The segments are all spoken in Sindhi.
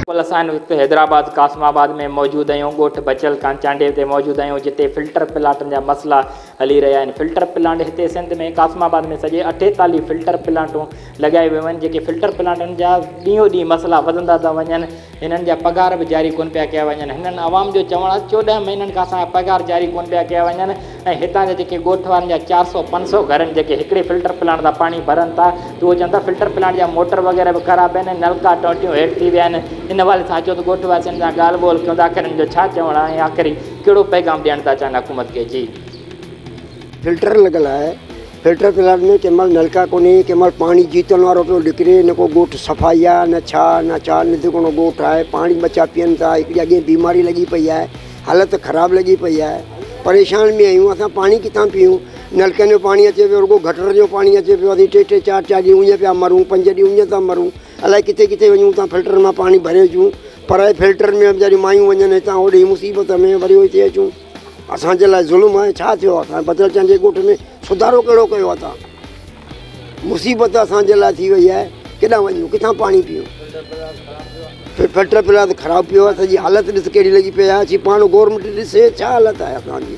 بلڪل اسان هن وقت حيدرآباد قاسم آباد ۾ موجود اهيون ڳوٺ بچيل کان چانڊيي تي موجود اهيون جتي فلٽر پلاٽن جا مسئلا هلي رهيا آهن فلٽر پلانٽ هتي سنڌ ۾ قاسم آباد ۾ سڄي اٺيتاليهه فلٽر پلانٽون لڳايون ويون آهن جيڪي فلٽر پلانٽن جا ڏينهون ڏينهن مسئلا وڌندا ٿا وڃن هنن جا پگهار به جاري ڪونه پيا ڪيا وڃن هنن عوام جو چوڻ آهي چوڏهن مهينن کان اسان جا پگهار جاري ڪونه پيا ڪيا وڃن ۽ هتان جا جيڪي ڳوٺ وارن جا چار سؤ پنج سؤ گهرن جيڪي هڪڙي فلٽر پلانٽ تان پاڻي ڀرن ٿا ته اهي چون ٿا فلٽر پلانٽ جا موٽر وغيره به خراب آهن ۽ نلڪا ٽونٽيون هيٺ ٿي ويا آهن ان حوالي سان اچو ته ڳوٺ واسين سان ڳالهه ٻولهه ڪيون ته آخر هن جو ڇا چوڻ آهي آخري ڪهڙو پيغام ڏيڻ ٿا چاهن حڪومت کي جي. فلٽر لڳل آهي فلٽر پلانٽ ۾ ڪنهن مهل نلڪا ڪونهي ڪنهن مهل پاڻي جيتن وارو پيو نڪري نه ڪو ڳوٺ صفائي آهي نه ڇا نه ڇا نڌڪڻو ڳوٺ آهي پاڻي ٻچا پيئن ٿا هڪڙي اڳي بيماري لڳي پئي آهي حالت خراب لڳي پئي آهي پريشان ۾ آهيون اسان پاڻي ڪٿان پيئون نلڪن جو پاڻي اچي پيو رڳو گٽر جو پاڻي اچي پيو ٽي ٽي چار چار ڏينهن اڃ پيا مرون پنج ڏينهن اڃ ٿا مرون الائي ڪٿي ڪٿي وڃون اتان فلٽرن مان پاڻي ڀري اچون پر اهي فلٽرن ۾ ويچاريون مايون وڃن هتان هوڏي مصيبت ۾ وري هتي اچون اسان جي لاء ظلم آهي ڇا ٿيو آهي اسان بدر چند جي ڳوٺ ۾ سڌارو ڪهڙو ڪيو آهي تان مصيبت اسان جي لاء ٿي وئي آهي ڪيڏانهن وڃون ڪٿان پاڻي پيون فلٽر پلا ته خراب پيو آهي سڄي حالت ڏس ڪهڙي لڳي پئي آهي اچي پاڻ گورنمنٽ ڏسي ڇا حالت آهي اسان جي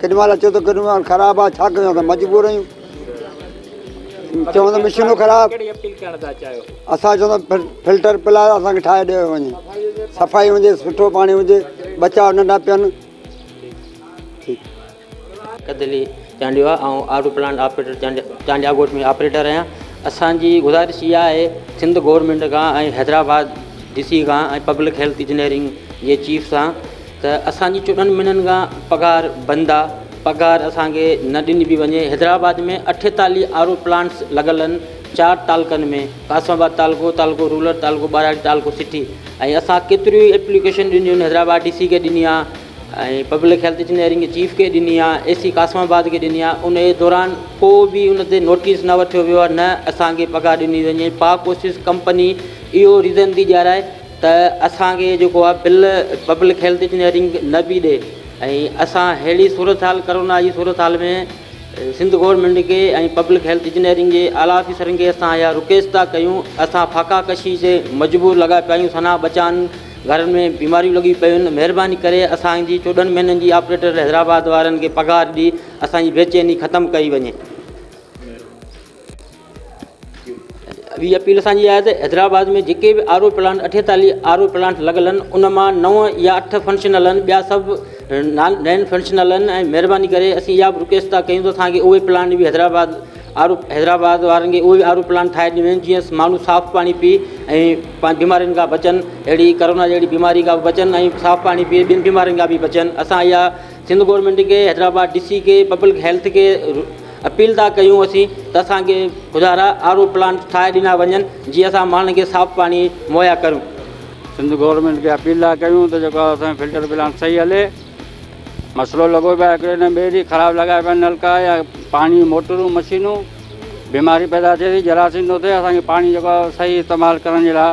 ڪيڏي مهل اچو ته ڪيڏي مهل خراب آهي ڇا ڪيون اسان مجبور آهيون چون ته مشينون خراب ڪهڙي اپيل ڪرڻ ٿا چاهيو اسان چون ته فلٽر پلاء اسان کي ٺاهي ڏيو وڃي صفائي هجي سٺو پاڻي هجي ٻچا ننڍا پيئن ڪڌلي چانڊيو آهي آئون R O plant operator Chandia ڳوٺ ۾ آپريٽر آهيان اسانجي گذارش اها آهي سنڌ گورنمينٽ کان ۽ حيدرآباد ڊي سي کان ۽ پبلڪ هيلٿ انجنيئرنگ جي چيف سان ته اسان جي چوڏهن مهينن کان پگهار بند آ پگهار اسان کي نه ڏني پي وڃي حيدرآباد ۾ اٺيتاليهه آر او پلانٽس لڳل ان چار تعلقن ۾ قاسم آباد تعلقو تعلقو رولر تعلقو ٻاراڙي تعلقو سٽي ۽ اسان ڪيتريون ئي ايپليڪيشن ڏنيون ان حيدرآباد ڊي سي کي ڏني آ ۽ پبلڪ هيلٿ انجنيئرنگ چيف کي ڏني آ اي سي قاسم آباد کي ڏني آ ان جي دوران ڪو به ان تي نوٽيس نه وٺيو ويو آ نه اسان کي پگهار ڏني وڃي پاڪ اوسيس ڪمپني اهو ريزن ٿي ڏيارائي ته اسان کي جيڪو آهي بل پبلڪ هيلٿ انجنيئرنگ نه پئي ڏي ۽ اسان ههڙي صورتحال ڪرونا جي صورتحال ۾ سنڌ گورنمينٽ کي ۽ پبلڪ هيلٿ انجنيئرنگ جي اعليٰ آفيسرن کي اسان اها رڪويسٽ ٿا ڪيون اسان ڦاڪا ڪشي تي مجبور لڳا پيا آهيون سنا ٻچان گهرن ۾ بيماريون لڳيون پيون آهن مهرباني ڪري اسان جي چوڏهن مهينن جي آپريٽر حيدرآباد وارن کي پگهار ڏئي اسان جي بيچيني ختم ڪئي وڃي. اھي اپيل اسان جي آھي ته حيدرآباد ۾ جيڪي به آر او پلانٽ اٺيتاليھ آر او پلانٽ لڳل آھن ان مان نو يا اٺ فنڪشنل آھن ٻيا سڀ نان نين فنڪشنل آھن ۽ مھرباني ڪري اسين اھا به رڪويسٽ ٿا ڪيون ته اسان کي اھي پلانٽ به حيدرآباد آر او حيدرآباد وارن کي اھي آر او پلانٽ ٺاھي ڏنيون وڃن جيئن ماڻھو صاف پاڻي پي ۽ پنھنجي بيمارين کان بچن اھڙي ڪرونا جھڙي بيماري کان بچن ۽ صاف پاڻي پي ٻين بيمارين کان به بچن اسان اھا سنڌ گورنمينٽ کي حيدرآباد ڊي سي کي پبلڪ ھيلٿ کي اپيل ٿا ڪيون اسين ته اسان کي خدا را آر او پلانٽ ٺاهي ڏنا وڃن جيئن اسان ماڻهن کي صاف پاڻي مهيا ڪريون. سنڌ گورنمينٽ کي اپيل ٿا ڪيون ته جيڪو اسان جو فلٽر پلانٽ صحيح هلي. مسئلو لڳو پيو آهي هڪڙي ڏينهن ٻئي ڏينهن خراب لڳايا پيا آهن نلڪا يا پاڻي جون موٽرون مشينون بيماري پيدا ٿئي ٿي جراثيم ٿو ٿئي اسان کي پاڻي جيڪو آهي صحيح استعمال ڪرڻ جي لاء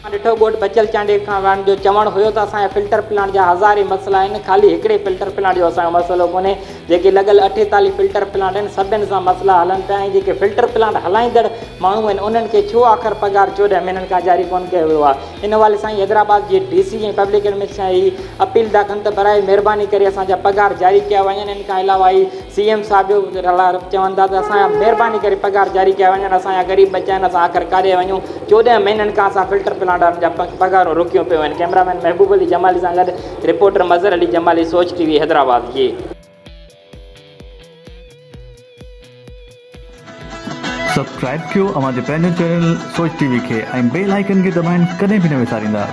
اسان ڏٺو ڳوٺ بچل چانڊيل کان واڻ جو چوڻ هيو ته اسان جا فلٽر پلانٽ جا هزارين مسئلا آهن خالي هڪڙي فلٽر پلانٽ جو اسان جو مسئلو ڪونهي جيڪي لڳل اٺيتاليهه فلٽر پلانٽ آهن سڀن سان مسئلا هلن پيا ۽ جيڪي فلٽر پلانٽ هلائيندڙ ماڻهو آهن انهن کي ڇو آخر پگهار چوڏهن مهينن کان جاري ڪونه ڪيو ويو آهي ان حوالي سان حيدرآباد جي ڊي سي ۽ پبلڪ ايڊمنسٽريشن کان اهي اپيل ٿا ڪن ته براء مهرباني ڪري اسان جا پگهار جاري ڪيا وڃن ان کان علاوه اهي سي ايم صاحب جو ڪجهه رلا رپ چون ٿا ته اسان جا مهرباني ڪري پگهار جاري ڪيا وڃن اسان جا غريب ٻچا آهن اسان آخر ڪاڏي وڃون چوڏهن مهينن کان اسان فلٽر پلانٽ وارن جا پگهارون روڪيون پيون آهن ڪئميرا مين محبوب علي جمالي سان گڏ reporter Mazhar Ali Jamali Soch T V Hyderabad جي سبسڪرائب ڪيو اوهان جي پنهنجو چينل سوچ ٽي وي کي ۽ بيل آئيڪن کي دٻائڻ ڪڏهن به نه وساريندا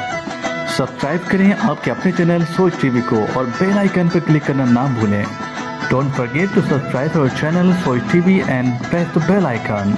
سبسڪرائب ڪرين آپ ڪي اپني چينل سوچ ٽي وي ڪو اور بيل آئيڪن پي ڪلڪ ڪرنا نا ڀولين ڊونٽ فرگيٽ ٽو سبسڪرائب اور channel Soch T V and press the bell icon.